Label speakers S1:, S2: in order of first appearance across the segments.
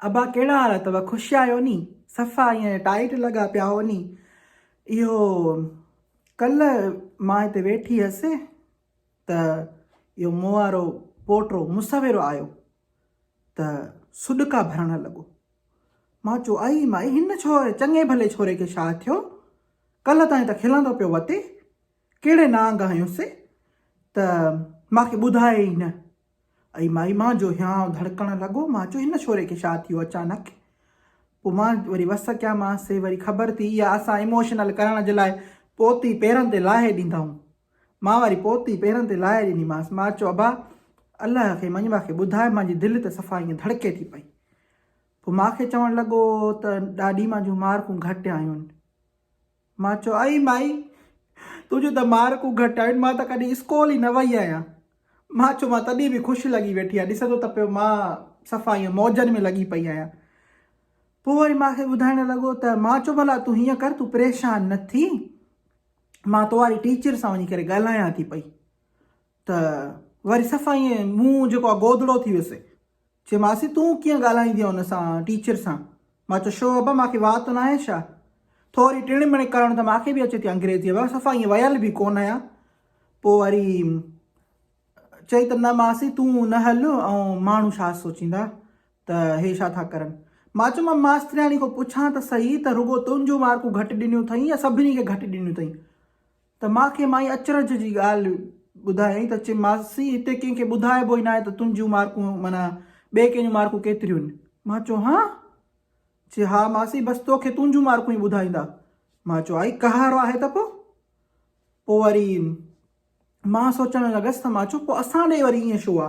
S1: ابا ڪهڙا حال اٿو خوش آهيو ني صفا ائين ٽائيٽ لڳا پيا هو ني اهو ڪلهه مان هتي ويٺي هيس ته اهو مون وارو پوٽو مصور آيو ته سڏڪا ڀرڻ لڳو مان چيو اي مائي هن ڇو چڱي ڀلي ڇوري کي ڇا ٿيو ڪلهه تائين ته کلندو پيو وتي ڪهڙي نانگ آهيون سي ته مان کي ٻڌايئي ئي نه. اي مائي مان جو هيانء ڌڙڪڻ لڳو. مان چيو هن ڇوري کي ڇا ٿيو اچانڪ. پوء مان وري وس ڪيامانس. سي وري خبر ٿي اها اسان ايموشنل ڪرڻ جي لاء پوتي پيرن تي لاهي ڏيندائون. مان وري پوتي پيرن تي لاهي ڏنيمانس. مان چيو ابا الله کي مڃيبا کي ٻڌاء مان جي دل ته صفا ائين ڌڙڪي ٿي پئي. پوء مان کي چوڻ لڳو ته ڏاڏي مان جون مارڪون گهٽ آيون. مان چيو، اي مائي! تنهنجون ته مارڪون گهٽ آيون، مان ته ڪڏهن اسڪول ئي نه وئي آهيان. مان چيو، مان تڏهن به خوش لڳي ويٺي آهيان، ڏسين ٿو ته پيو مان صفا ائين موجن ۾ لڳي پئي آهيان. پوء وري مان کي ٻڌائڻ لڳو ته مان چيو، ڀلا تون هيئن ڪر، تون پريشان نه ٿي، مان تو واري ٽيچر سان وڃي ڪري ڳالهايان ٿي پئي. ته وري صفا ائين منهن جيڪو آهي گودڙو ٿي ويس. چيومانس تون ڪيئن ڳالهائيندينء ان سان، ٽيچر سان؟ مان چيو شو ابا مان کي واء ته ناهي ڇا؟ ٿوري ٽڻ مڻ ڪرڻ ته مان کي به اچي ٿي انگريزيء ۾ صفا ائين ويل به ڪونه آهيان. پوء وري چئي ته نه ماسي تون نه هل ۽ ماڻهو ڇا سوچيندا ته هي ڇا ٿا ڪرن. مان چيو مان ماسترياڻي کان پڇان ته سهي ته رڳو تنهنجون مارڪون گهٽ ڏنيون اٿئي يا سڀني کي گهٽ ڏنيون اٿئي. ته ماء کي مائي اچرج جي ڳالهه ٻڌايائين ته چيم ماسي هتي ڪنهن کي ٻڌائبو ئي ناهي ته تنهنجون مارڪون معنيٰ ٻئي ڪنهن جون مارڪون ڪيتريون آهن؟ ماء چيو هانء؟ چي ها ماسي بس توکي تنهنجون مارڪون ئي ٻڌائيندا. ماء چيو آئي ڪهارو آهي ته پو؟ پو وري ماء سوچڻ لڳس ته ماء چيو پو اسان ڏي وري ائين ڇو آ؟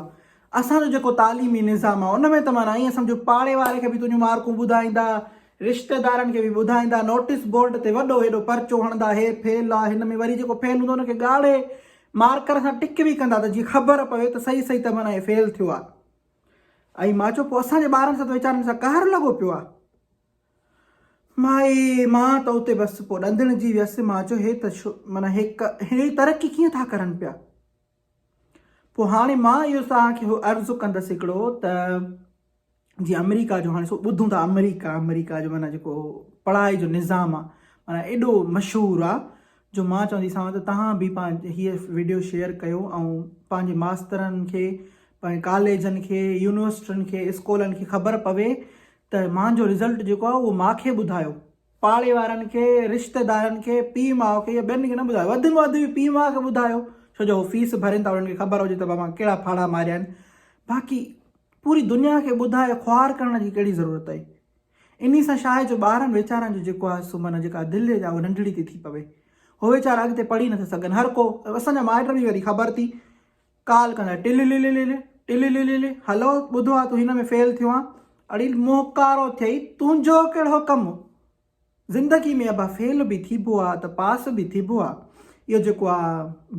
S1: اسان جو جيڪو تعليمي نظام آ ان ۾ ته معنيٰ ائين سمجهه پاڙي واري کي به تنهنجون مارڪون ٻڌائيندا رشتيدارن کي به ٻڌائيندا، نوٽيس بورڊ تي وڏو هيڏو پرچو هڻندا، هي فيل آ، هن ۾ وري جيڪو فيل هوندو ان کي ڳاڙهي مارڪر سان ٽڪ به ڪندا ته جيئن خبر پوي ته صحيح صحيح ته معنيٰ هي فيل ٿيو آ. ۽ مان چيو پوء اسان جي ٻارن سان ته ويچارن سان قهر لڳو پيو آ. مائي مان ته اتي بس پوء ڏندڻجي ويس، مان چيو هي ته معنيٰ هي ترقي ڪيئن ٿا ڪرن پيا. پوء هاڻي مان اهو توهان کي عرض ڪندس هڪڙو ته جي آمريڪا جو هاڻي سو ٻڌون ٿا آمريڪا آمريڪا جو معنيٰ جيڪو پڙهائي جو نظام آهي معنيٰ ايڏو مشهور آهي جو مان چوندي سان ته توهان به پنهنجي هي ويڊيو شيئر ڪيو ۽ پنهنجي ماسترن کي پنهنجي ڪاليجن کي يونيورسٽين کي اسڪولن کي خبر پوي ته مانجو رزلٽ جيڪو آهي اهو ماکي ٻڌايو پاڙي وارن کي، رشتيدارن کي، پيء ماء کي يا ٻين کي نه ٻڌايو. وڌ ۾ وڌ به پيء ماء کي ٻڌايو، ڇو جو هو فيس ڀرين ٿا انهن کي خبر هجي ته اوهان ڪهڙا ڦاڙها ماريا آهن. باقي پوري دنيا کي ٻڌائي خوار ڪرڻ جي ڪهڙي ضرورت هئي. انهي سان ڇا آهي جو ٻارن ويچارن جو جيڪو آهي سو معنيٰ جيڪا دل جي آهي اها ننڍڙي ٿي ٿي پوي. هو ويچارا اڳتي پڙهي نه ٿا سگهن. هر ڪو اسان جا مائٽ به وري خبر ٿي ڪال ڪندڙ، ٽللللللل، ٽلللللل، هلو، ٻڌو آ تون هن ۾ فيل ٿيو آن. اڙي موهڪارو ٿئي، تنهنجو ڪهڙو ڪم. زندگي ۾ ابا فيل به ٿيبو آ ته پاس به ٿيبو آ. اهو جيڪو آ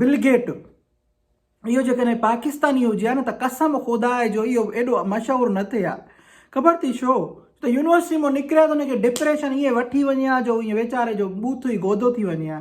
S1: بل گيٽ، اهو جيڪڏهن پاڪستاني هجي ها نه ته قسم خدا جو اهو ايڏو مشهور نه ٿئي ها. خبر اٿئي ڇو؟ ڇو ته يونيورسٽي مان نڪري ها ته هن کي ڊپريشن ائين وٺي وڃي ها جو ائين ويچاري جو بوٿ ئي گودو ٿي وڃي ها.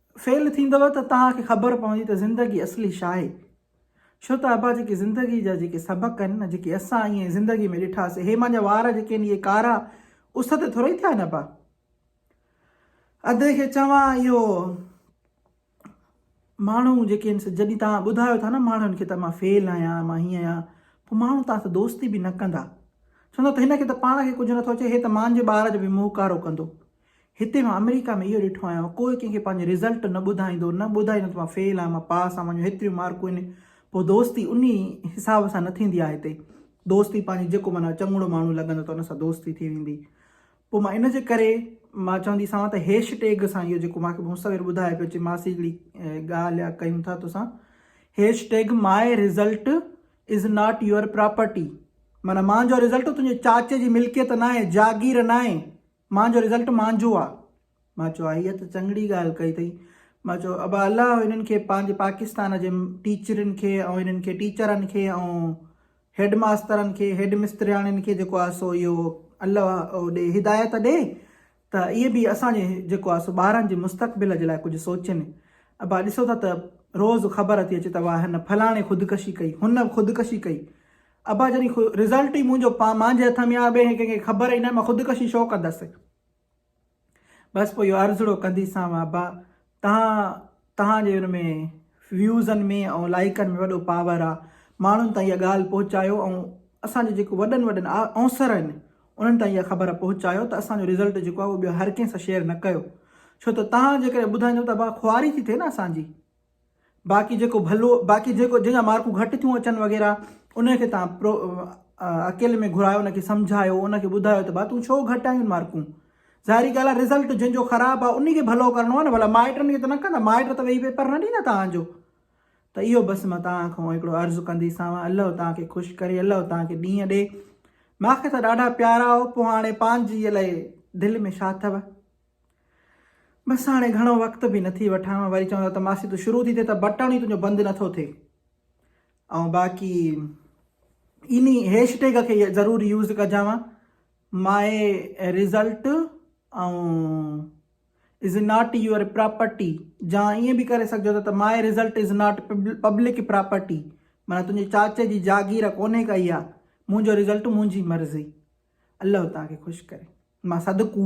S1: فيل ٿيندؤ ته توهان کي خبر پوندي ته زندگي اصلي ڇاهي ڇو ته ابا جيڪي زندگي جا جيڪي سبق آهن نه جيڪي اسان ائين زندگي ۾ ڏٺاسي هي مانجا وار جيڪي آهن اهي ڪارا اس تي ٿورئي ٿيا آهن ابا ادي کي چوان اهو ماڻهو جيڪي آهن سو جڏهن توهان ٻڌايو ٿا نه ماڻهن کي ته مان فيل آهيان مان هيئن آهيان پوء ماڻهو توهان سان دوستي به نه ڪندا چوندا ته هن کي ته پاڻ کي ڪجهه نٿو اچي هي ته مانجي ٻار جو به منهن ڪارو ڪندو هتي مان آمريڪا ۾ اهو ڏٺو آهيان ڪوئي ڪنهن کي پنهنجو رزلٽ نه ٻڌائيندو نه ٻڌائيندو ته مان فيل آهيان مان پاس آهيان منهنجون هيتريون مارڪون آهن پوء دوستي انهي حساب سان نه ٿيندي آهي هتي دوستي پنهنجي جيڪو معنيٰ چڱڙو ماڻهو لڳندو ته ان سان دوستي ٿي ويندي پوء مان ان جي ڪري مان چوندي سان ته هيش ٽيگ سان اهو جيڪو ماکي مصور ٻڌايو پيو چي ماسي هڪڙي ڳالهه يا ڪيون ٿا توسان hashtag my result is not your property معنيٰ مانجو رزلٽ تنهنجي چاچي جي ملڪيت ناهي جاگير ناهي مان جو رزلٽ مانجهو آ. مان چيو آهي ته چڱڙي ڳالهه ڪئي اٿئي. مان چيو ابا الله هنن کي پنهنجي پاڪستان جي ٽيچرين کي ۽ هنن کي ٽيچرن کي ۽ هيڊ ماسترن کي هيڊ مسترياڻين کي جيڪو آهي سو اهو الله او ڏي هدايت ڏي ته اهي به اسان جي جيڪو آهي سو ٻارن جي مستقبل جي لاء ڪجهه سوچين. ابا ڏسو ٿا ته روز خبر ٿي اچي ته واهه هن فلاڻي خودڪشي ڪئي هن خودڪشي ڪئي ابا جڏهن خو رزلٽ ئي منهنجو پا مانجهي هٿ ۾ آ ٻئي هين ڪنهن کي خبر ئي ناهي مان خودڪشي ڇو ڪندس بس پوء اهو عرضڙو ڪنديسانو ابا تهان تهان جي ان ۾ ويوزن ۾ ۽ لائيڪن ۾ وڏو پاور آ ماڻهن تائين اها ڳالهه پهچايو ۽ اسان جي جيڪو وڏن وڏن اونسر آهن انهن تائين اها خبر پهچايو ته اسان جو رزلٽ جيڪو آ اهو ٻيو هر ڪنهن سان شيئر نه ڪيو ڇو ته تهان جيڪڏهن ٻڌائيندو ته ابا خواري ٿي ٿئي نه اسان جي. باقي جيڪو ڀلو باقي جيڪو جنهن جا مارڪون گهٽ ٿيون اچن وغيره انهي کي تهان پرو اڪيلي ۾ گهرايو ان کي سمجهايو ان کي ٻڌايو ته ڀا تون ڇو گهٽ آيون مارڪون ظاهري ڳالهه آهي رزلٽ جنهن جو خراب آهي انهي کي ڀلو ڪرڻو آهي نه ڀلا مائٽن کي ته نه ڪندا مائٽ ته ويهي پيپر نه ڏيندا تهان جو ته اهو بس مان تهان کان هڪڙو عرض ڪندي ساوا الله تهان کي خوش ڪري الله تهان کي ڏينهن ڏي ماکي ته ڏاڍا پيارا هو پوء هاڻي پنهنجي الائي دل ۾ ڇا اٿو بس هاڻي گهڻو وقت به نه ٿي وٺان وري چوندا ته ماسي تون شروع ٿي ٿئي ته بٽڻ ئي تنهنجو بند نه ٿو ٿئي ۽ باقي انهي هيش ٽيگ کي ضرور يوز ڪجانء my result ۽ is not your property جا ائين به ڪري سگهجو ٿا ته my result is not public property مانا تنهنجي چاچي جي جاگير ڪونهي ڪئي آ منهنجو رزلٽ منهنجي مرضي الله توهان کي خوش ڪري مان صدقو.